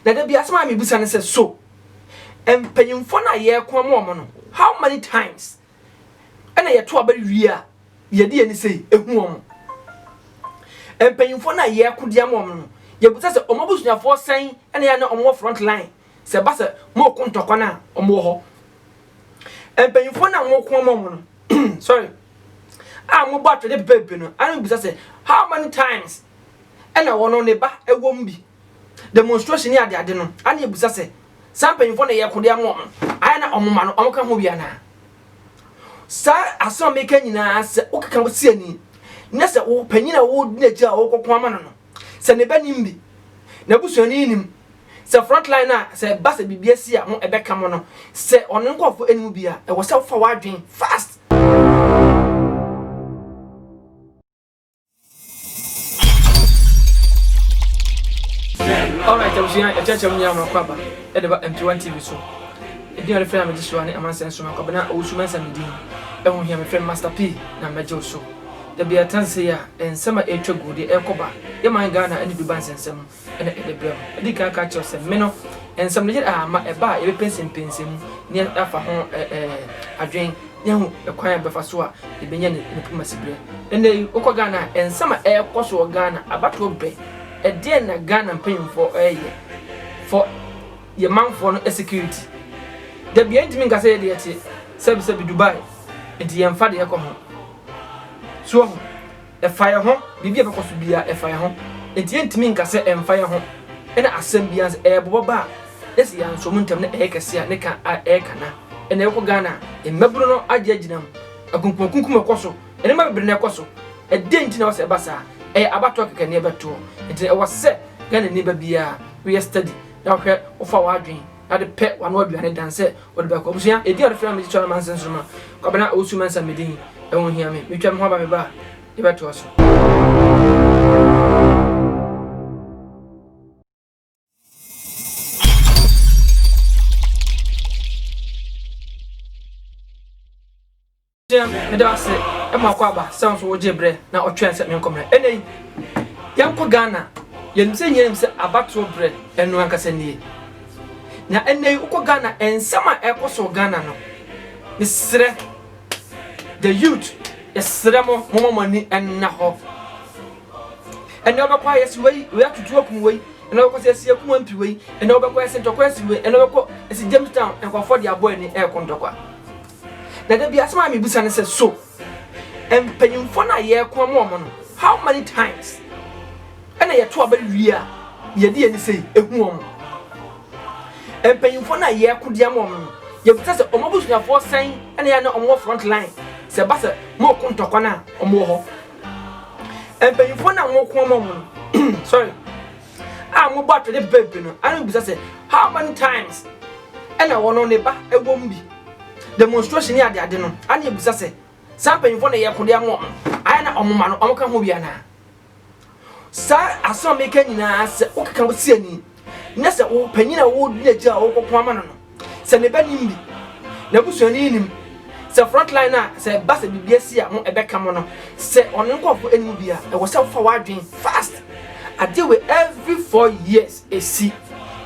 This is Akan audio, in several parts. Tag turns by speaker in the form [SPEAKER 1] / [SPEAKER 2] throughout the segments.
[SPEAKER 1] Na da bi asɛm a mibisa ne sɛ, So mpanyimfo no a yɛreko ama wɔn no, how many times na yɛto aba wie a yɛde yɛn ani sei ehu wɔn? Mpanyimfo no a yɛreko de ama wɔn no, yebisa sɛ wɔn abusuafoɔ sɛn na yɛ a na wɔwɔ front line sɛ ɛba sɛ wɔreko ntɔkwa no a wɔwɔ hɔ? Mpanyimfo no a wɔreko ama wɔn no, sorry, a wɔbɔ atwɛde pepepe no, ana mibisa sɛ, how many times na wɔn ne ba wɔ mu bi? demonstration ne ade ade no ana yɛbusa sɛ saa mpanyimfoɔ na ɛyɛ kode ama wɔn ayɛ na wɔn ma no wɔn ka ho bi anaa saa asɛm a meka nyinaa sɛ wokeka si ani na sɛ wo panyin a wodi n'akyi a wokɔko ama no no sɛ ne ba nim bi na busuani nim sɛ front line a sɛ ba sɛ biribi asi a mo ɛbɛka mo no sɛ ɔno nkɔfo anim bi a ɛwɔ sɛ wofa w'adwen fast Alright, abusua ɛkyɛkyɛ mu nyinaa mɔkɔ aba ɛde ba M21 TV so. Ɛdi a yɛfrɛ a megye so a ne amansan so mɛkɔ abena owusu mɛnsa ne din. Ɛho hia mefrɛ me Master P na mɛgye so. Da bi a ɛtase sɛ yɛ a nsɛm a ɛretwa gu deɛ ɛrekɔ ba yɛ man Ghana ɛne Dubai nsɛnsɛm. na ɛde brɛ no. Adi kan aka akyerɛ wo sɛ me no, nsɛm no yɛ a ma ɛba a yɛbɛpɛnsɛmpɛnsɛm mu na yɛafa ho adwene na yɛahu kwan a yɛbɛfa so a yɛbɛnya ne diplomacyberɛ. Ɛnnɛ yi, wokɔ Ghana a, nsɛm a ɛrekɔ so wɔ Ghana, abatoɔ bɛ, ɛdeɛn na Ghana mpanyinfoɔ reyɛ for yɛn manfoɔ no security? Dabi, yɛntumi nka sɛ yɛde yɛte sɛbisɛbi Dubai, nti yɛmfa deɛ ɛkɔ ho. So wahu? Ɛfa yɛn ho, biribi a ɛbɛkɔ so biara, ɛfa yɛn ho. Enti yɛrentumi nka sɛ ɛmfa yɛn ho. Ɛna asɛm biara nso, ɛyɛ bobɔ ba a, na sɛ yɛansoa mu ntɛm na ɛyɛ kɛse a, ne ka a ɛreka na ɛna ɛkɔ Ghana a, mmabunu no agye agyina mu. Akunkumakunkum ɛkɔ so, nneɛma bebree na ɛkɔ so. Ɛdɛn nti na ɛwɔ sɛ ɛba saa? Ɛyɛ abatoɔ kɛkɛ na yɛbɛtoɔ. Enti ɛwɔ sɛ Ghanani ba biara, woyɛ study na wohwɛ, wofa w'adwene. Ade pɛ wano aduane dan sɛ ɔde bɛkɔ. Abusua ɛdin a ɔde frɛ me de tua no manse nsoroma. Kwabena Owusu Mensah me din, ɛho nhia me. Metwa me ho aba meba a, yɛbɛ toa so. Jim, meda wo ase ma ɔkɔ aba sɛ nso wogye berɛ na ɔtwɛn sɛ menkɔ mmerɛ. Ɛnɛ yi, yɛnkɔ Ghana. Yɛnim sɛ nyɛ nim sɛ abatoɔ berɛ ɛno ankasa nie. Na ɛnɛ yi wokɔ Ghana, nsɛm a ɛkɔ so Ghana no, mesrɛ, the youth, yɛsrɛ mo, moma mo ani ɛnna hɔ. Ɛnɛ wobɛkɔ a yɛsi wei, wei atutu akum wei, ɛnɛ wobɛkɔ sɛ ɛsi akum ampi wei, ɛnɛ wobɛkɔ ɛsi ntɔkwa ɛsi wei, ɛnɛ wobɛkɔ ɛsi Jamestown, nkɔfoɔ de abɔ ani ɛkɔ ntɔkwa. Na da bi asɛm a mibisa ne sɛ, So mpanyimfo no a yɛreko ama wɔn no, how many times na yɛto aba wie a yɛde yɛn ani sei ehu wɔn? Mpanyimfo no a yɛreko de ama wɔn no, yebisa sɛ wɔn abusuafoɔ sɛn na yɛ a na wɔwɔ front line sɛ ɛba sɛ moreko ntɔkwa no a wɔwɔ hɔ? Mpanyimfo no a moreko ama wɔn no, sorry. a wɔbɔ atwɛde bere bi no ano bisa sɛ, How many times? ɛna wɔn no ne ba wom bi. Demonstration ne adeade no ano yɛ bisa sɛ, Saa mpanyimfoɔ na ɛyɛ kode ama wɔn ayɛ na wɔn mma no wɔka ho bi anaa? Saa asɛm a meka nyinaa, sɛ wokeka wo siani na sɛ wo panyin a wodi n'akyi a wokɔko ama no no, Sɛ ne ba nim bi, n'abusuani nnim, sɛ front line a sɛ ɛba sɛ biribi asi a mo ɛbɛka mo no, sɛ ɔne nkorɔfoɔ nnim bi a, ɛwɔ sɛ wofa w'adwen fast. Adeɛ wei every four years ɛsi,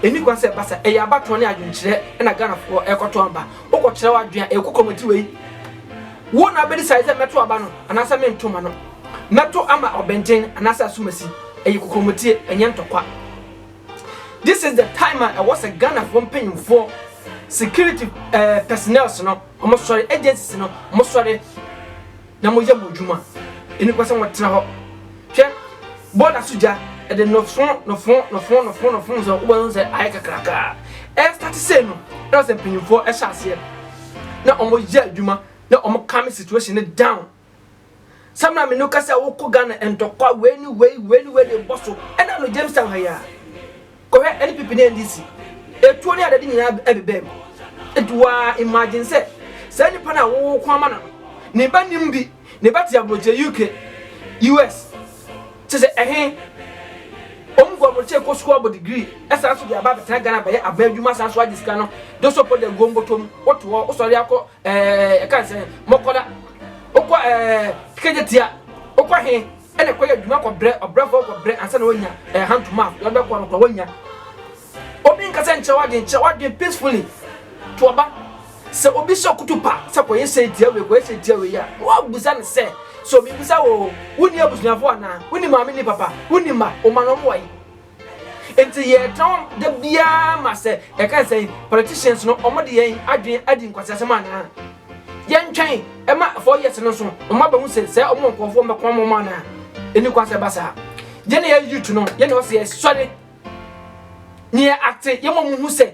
[SPEAKER 1] ɛnni kwan sɛ ɛba saa, ɛyɛ abatoɔ ne adwenkyerɛ na Ghanafoɔ ɛrekɔto aba, wokɔ kyerɛ w'adwen a ɛkɔ kɔmati wei, wo na wobɛdecide sɛ mɛto aba no anaasɛ mento ma no, mɛto ama Ɔbɛnten anaasɛ Asumasi, ɛyɛ kokomotie ɛnyɛ ntɔkwa. This is the time a ɛwɔ sɛ Ghanafoɔ mpanyinfoɔ, security eh, personnels no, wɔn sɔre, agencies no, wɔn sɔre na wɔn yɛ wɔn adwuma. Ɛni kɔ sɛ wɔn tena hɔ. Hwɛ, bɔɔda so gya, ɛde nɔfo, nɔfo, nɔfo, nɔfo, nɔfo, sɛ wɔn ho sɛ ayɛ kakrakaa. Ɛstate sɛ no, ɛna sɛ mpanyinfoɔ ɛhyɛ aseɛ na wɔn yɛ adwuma na wɔn calm situation no down. sɛ maame no ka sɛ wokɔ ghana ntɔkwa wei ne wei wei ne wei de bɔ so ɛna no jamestown ha yɛ a kɔhwɛ ɛne pipi ne ndc etuo ne adade nyinaa ɛbebɛm nti waa imagine sɛ saa nipa no a wowɔ ko ama no no ne ba nim bi ne ba te aburokyerɛ uk us kyɛ sɛ ɛhe wɔn kɔ aburokyerɛ kɔ sukuu abɔ degree ɛsan so de aba abɛtena ghana bɛyɛ aban adwuma san so agye sika no de sɔpɔ de aguo mbɔtɔ mu wotoɔ wosɔre akɔ Eh, yɛka ne sɛ mɔkɔda wokɔ eh, kɛgye tia wokɔ he ɛna kɔyɛ adwuma kɔbrɛ ɔbrɛfoɔ kɔbrɛ ansa na wonya eh, hand to mouth deɛ ɔde bɛkɔ no kora wonya obi nka sɛ nkyerɛ w'adwen kyerɛ w'adwen peacefully to ɔba sɛ obi sɛ ɔkoto pa sɛ kɔyɛ sɛ tia wei kɔyɛ sɛ tia wei a woabusa no sɛ sɛ obi bisa wo wonni abusuafoɔ anaa wonni maame ni papa wonni ma woma no ɔmo wae Nti yɛtɔn da biara ma sɛ yɛka sɛ politicians no wɔn de yɛn adwene adi nkwaseasɛm anaa? Yɛntwɛn ɛma four years no so wɔn abɛhu sɛ sɛ wɔn nkurɔfoɔ mɛko ama wɔn anaa? Ɛni kwan sɛ ɛba saa. Yɛn na yɛ youth no yɛn na ɔsɛ yɛsɔre ne yɛ ate yɛn ma wɔn hu sɛ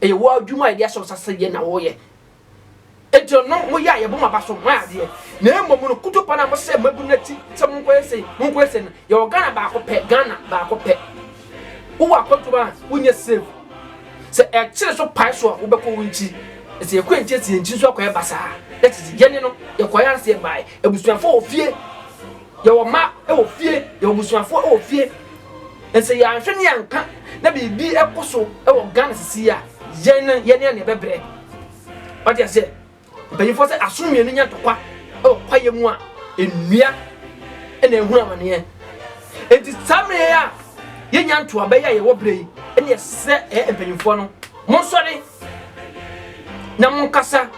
[SPEAKER 1] Ɛyɛ wo adwuma a yɛde ahyɛ wo nsa sɛ yɛ na woyɛ. Enti no, no moyɛ a yɛbɔ mo aba so, moayɛ adeɛ. Na mmom no, kutupa no a mohyɛ mo abu no akyi sɛ monkɔyɛ sei, monkɔyɛ sei no, yɛwɔ Ghana baako pɛ, Ghana baako pɛ. Wowɔ akwantu ma a, wonyɛ safe. Sɛ ɛkyere so pae so a, wobɛkɔ wo nkyi. Na sɛ yɛkɔ nkyi, ɛsɛ yɛn nkyi nso akɔyɛ basaa. That is, yɛne no, yɛkɔyɛ ara sɛ yɛbae. Abusuafo wɔ fie. Yɛwɔ mma wɔ fie, yɛwɔ abusuafoɔ wɔ fie. Nsɛ yɛanhwɛ ne yɛanka na biribi kɔ so wɔ Ghana sisi a, yɛn no yɛne anea bɛbrɛ. Wate aseɛ? Mpanyinfoɔ sɛ asono mmienu nya ntɔkwa wɔ kwaeɛ mu a, nnua na ɛhunu amaneɛ. Enti saa mmerɛ a yɛnya ntoa bɛyɛ a yɛwɔ berɛ yi, ɛne ɛsrɛ ɛyɛ mpanyinfoɔ no, monsɔre na monkasa.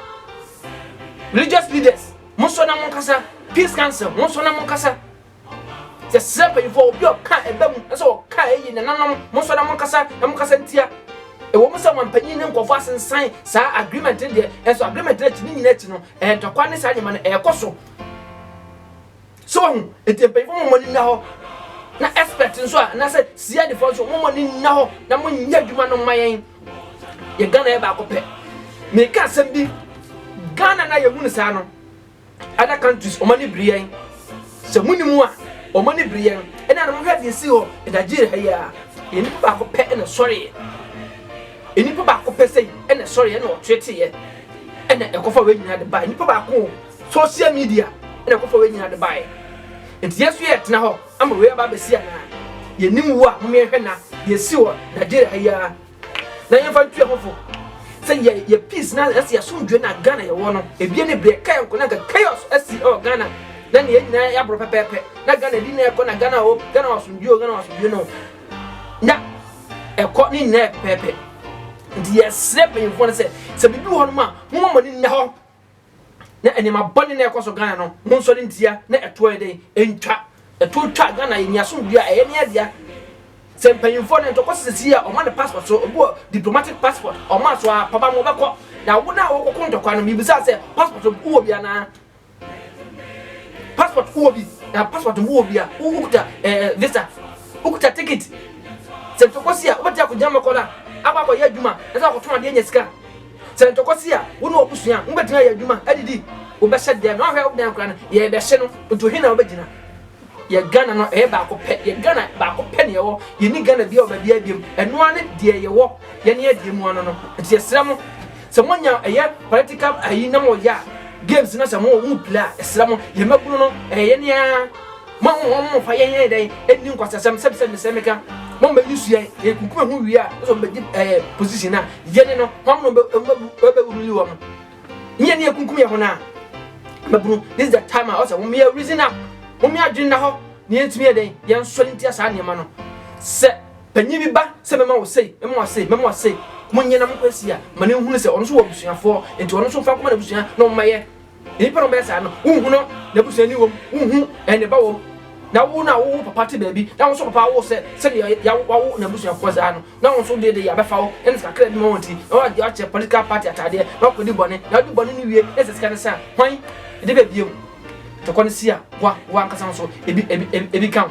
[SPEAKER 1] Religious leaders. monsɔ na monkasa peace council monsɔ na monkasa yɛsrɛ mpanyinfoɔ obi a ɔka ɛbɛ mu ɛsɛ ɔka ɛyi nananom monsɔ na monkasa na monkasa ntia ɛwɔ mu sɛ wɔn mpanyin ne nkɔfo asensan saa agreement no deɛ ɛnso agreement no akyi ne nyinaa akyi no ɛntɔkwa ne saa nneɛma no ɛrekɔ so So wahu? Enti mpanyimfo mo mmɔ ne nna hɔ, na expert nso a anaasɛ CIDfoɔ nso mo mmɔ ne nna hɔ na mo nyɛ adwuma no mma yɛn. Yɛ Ghana yɛ baako pɛ. Meka asɛm bi, Ghana na yɛhu no saa no, other countries wɔn ani bere yɛn. Sɛ mo ni mu a, wɔn ani bere yɛn. Ɛna na mo hwɛ deɛ esi hɔ, Nigeria ha yi a, yɛn nipa baako pɛ ɛna sɔreɛ. Nipa baako pɛ sɛ ɛna sɔreɛ ɛna ɔteteeɛ ɛna ɛkɔfa wɔn nyinaa de ba nipa baako. Social media na ɛkɔfa wei nyinaa de baeɛ. Nti yɛn nso yɛɛtena hɔ ama wei aba abɛsi anaa? Yɛnnim wo a, mom yɛnhwɛ nna deɛ ɛsi wɔ Nigeria ha yi ara na yɛmfa ntu yɛn ho fo. Sɛ yɛ yɛ peace na ɛsɛ yɛ asomdwoeɛ na Ghana yɛwɔ no, ebia ne berɛ ɛkaeɛ nko na anka chaos asi ɛwɔ Ghana na ne yɛn nyinaa yɛaborɔ pɛpɛɛpɛ na Ghana ɛdi na ɛkɔ na Ghana o, Ghana wɔ asomdwoeɛ o, Ghana wɔ asomdwoeɛ no na ɛkɔ ne nyinaa yɛ pɛpɛɛpɛ. Nti yɛsrɛ mpanyimfoɔ no sɛ, sɛ biribi wɔ hɔnom a, momma mo ani nna hɔ. na nneɛma bɔne na ɛkɔ so Ghana no monsɔre ntia na ɛtoɔ yɛ dɛn ɛntwa ɛtoɔ twa Ghana yɛ nia som dua ɛyɛ ne adea sɛ mpanyinfoɔ no ɛntɔkɔ sɛ sisi a ɔma no passport so obi wɔ diplomatic passport ɔma so a papa mo bɛkɔ na wo na wɔkɔ ko ntɔkwa no mibisa sɛ passport wowɔ bi anaa passport wowɔ bi na passport wowɔ bi a wokuta ɛɛ visa wokuta ticket sɛ ntɔkɔ si a wobɛti akɔgyina mɛkɔ no a abɔ akɔyɛ adwuma ɛsɛ akɔtɔn adeɛ nya sika Sɛ ntɔkwa si a, wo ne w'abusua a, mobɛtumi ayɛ adwuma, adidi, wobɛhyɛ deɛ na wahwɛ wobɛn akwadaa no, yɛrebɛhye no nti ɔhe na wobɛgyina? Yɛ Ghana no ɛyɛ baako pɛ, yɛ Ghana baako pɛ na yɛwɔ, yɛni Ghana bia wɔ baabi a biam, ɛno ara ne deɛ yɛwɔ, yɛne adeɛ mu ano no, nti yɛsrɛ mo sɛ moanya ɛyɛ political ayi na moyɛ a, games no sɛ mo, mo play a, yɛsrɛ mo, yɛn mmabunu no ɛyɛ yɛne ara. Mo ahom hom mfa yɛn yɛyɛ dɛn nni nkwaseasɛm sɛ sɛ mesɛ meka mo mma nyi suae yɛ kunkum ɛho wie a ɔsɔ mbɛgye ɛɛ position a yɛne no hom no bɛ bɛ ruli wɔn ne yɛne yɛ kunkum yɛ ho na mabunu this is the time a ɔsɛ hom yɛ reason up hom yɛ adwene na hɔ ne yɛn tumi yɛ dɛn yɛn sɔre ntia saa nneɛma no sɛ panyin bi ba sɛ mɛma wɔ sei mɛma wɔ sei mɛma wɔ sei mo nyɛ na mo kɔ asi a ma ne nhunu sɛ ɔno nso wɔ abusuafoɔ nti ɔno nso fa nkɔma n'abusua na ɔmo ma yɛ Nnipa a wɔbɛyɛ saa no, wonhu no, n'abusuani wom, wonhu ne ba wom. Na wo no a wowo papa te baabi, na wo nso papa awo sɛ sɛdeɛ wawo n'abusuafoɔ saa no, na wo nso deɛ de yɛabɛfa wo ne sika kakra bi ma wɔn ti, na woakyɛ political party ataadeɛ, na woakɔdi bɔne, na wode bɔne no wie, na sɛ sika no sa a, hwan de bɛ biom? Tokɔ no si a, boa wo ankasa nso, ebi ka wo.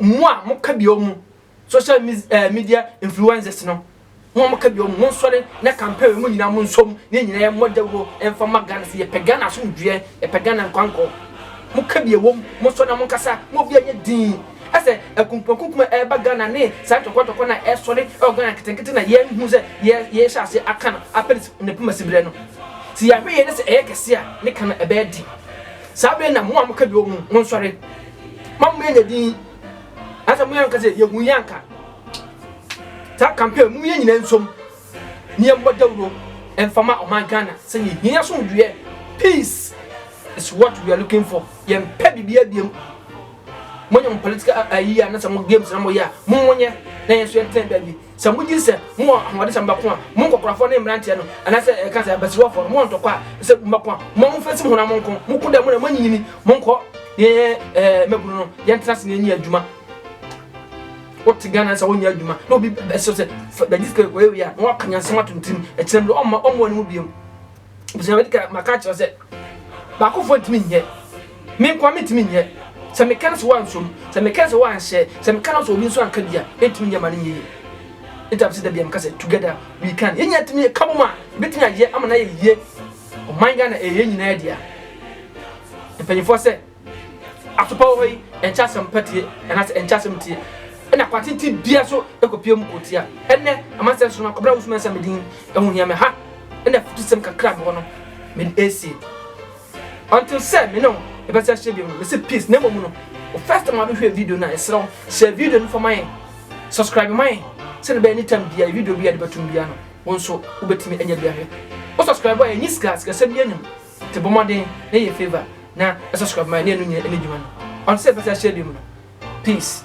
[SPEAKER 1] mo a mo ka bio mo social media influences no mo a mo ka bio mo nsɔre na campaign mo nyina mo nsom ne nyina yɛ mo dawuro ɛnfa ma Ghana sɛ yɛpɛ Ghana asomdwoeɛ yɛpɛ Ghana nkwankɔ mo ka bio wom mo sɔ na mo nkasa mo obi anyɛ din ɛsɛ akumpuakumkum a ɛreba Ghana ne saa ntɔkɔntɔkɔ na ɛsɔre ɛwɔ Ghana nketenkete na yɛn hu sɛ yɛhyɛ ase aka no apɛn ne poma sibrɛ no sɛ yɛahwɛ yɛn ne sɛ ɛyɛ kɛse a ne ka no ɛbɛyɛ de saa bere na mo a mo ka bio mo nsɔre ma mo yɛ yɛ din ansa mo yɛ nka sɛ yɛhu yɛ anka saa campaign mu yɛ nyina nsom ne yɛ mbɔ dawuro mfama ɔman Ghana sɛ yɛ hia yɛ som dweɛ peace is what we are looking for yɛ mpɛ bibi abiem mo nyɛ mo political ayi anasa mo games na mo yɛ a mo mo nyɛ na yɛ nso yɛ ntɛn baabi Sɛ mugye sɛ mowɔ ahoɔden sɛ mobɛko a, mo nkwakorafoɔ ne mmeranteɛ no, anaasɛ ɛka sɛ abasiriwafoɔ no, mowɔ ntɔkwa a sɛ mobɛko a, momma momfa nsi mo honam nko. Moko dɛ mo na moanyinyini, monkɔ ne yɛnyɛ ɛɛ mmabunu no, yɛntena ase na yɛnyɛ adwuma. Wote Ghana sɛ wonyɛ adwuma na obi bɛsɛ sɛ bɛgye sika kɔyɛ wei a na wakanyansɛm ato ne tirim, ɛkyena bi ɔmma ɔmmoa ne mu biom. Ebusua medi kan maka akyerɛ sɛ baakofoɔ ntumi nyɛ. Me nkoa mentumi nyɛ. Sɛ meka no sɛ woansɔ mu, sɛ meka no sɛ woanhyɛ, sɛ meka no sɛ obi nso anka bi a, ɛntumi nyɛ ma no nyɛ yie. Nti a mese da biara meka sɛ together we can. Yɛn nyinaa tumi yɛ kabom a, yɛbɛtumi ayɛ ama no ayɛ yie. Ɔman Ghana ɛyɛ yɛn nyinaa dea. Mpanyinfoɔ sɛ. Asopa wɔ hɔ yi, ɛnkyɛ asɛm pa tie, anaasɛ ɛnkyɛ asɛm tie, ɛna kwan tenten biara so kɔpue mu kotia. Ɛnnɛ, amansan so no, Kwabena Owusu-Mensah me din ho hia me. Ha na afutusɛm kakra a mewɔ no mede asie. Until sɛ me ne wo yɛbɛsan ahyia bio no, mese peace. Na mmom no, wo first time a wobɛhwɛ video no a, yɛsrɛ wo, hyɛ video no fa ma yɛn, subscribe ma yɛn, sɛdeɛ ɛbɛyɛ anytime biara video biara de bɛtom biara no, wo nso wobɛtumi anya bi ahwɛ. Wo subscribe a, ɛnyɛ sika, sikasɛm biara nnim. Bɔ mmɔden na yɛ favour na subscribe ma yɛn na yɛn no nyina ɛni dwuma no ɔnte sɛ yɛpɛ sɛ yɛahyɛ biom no peace.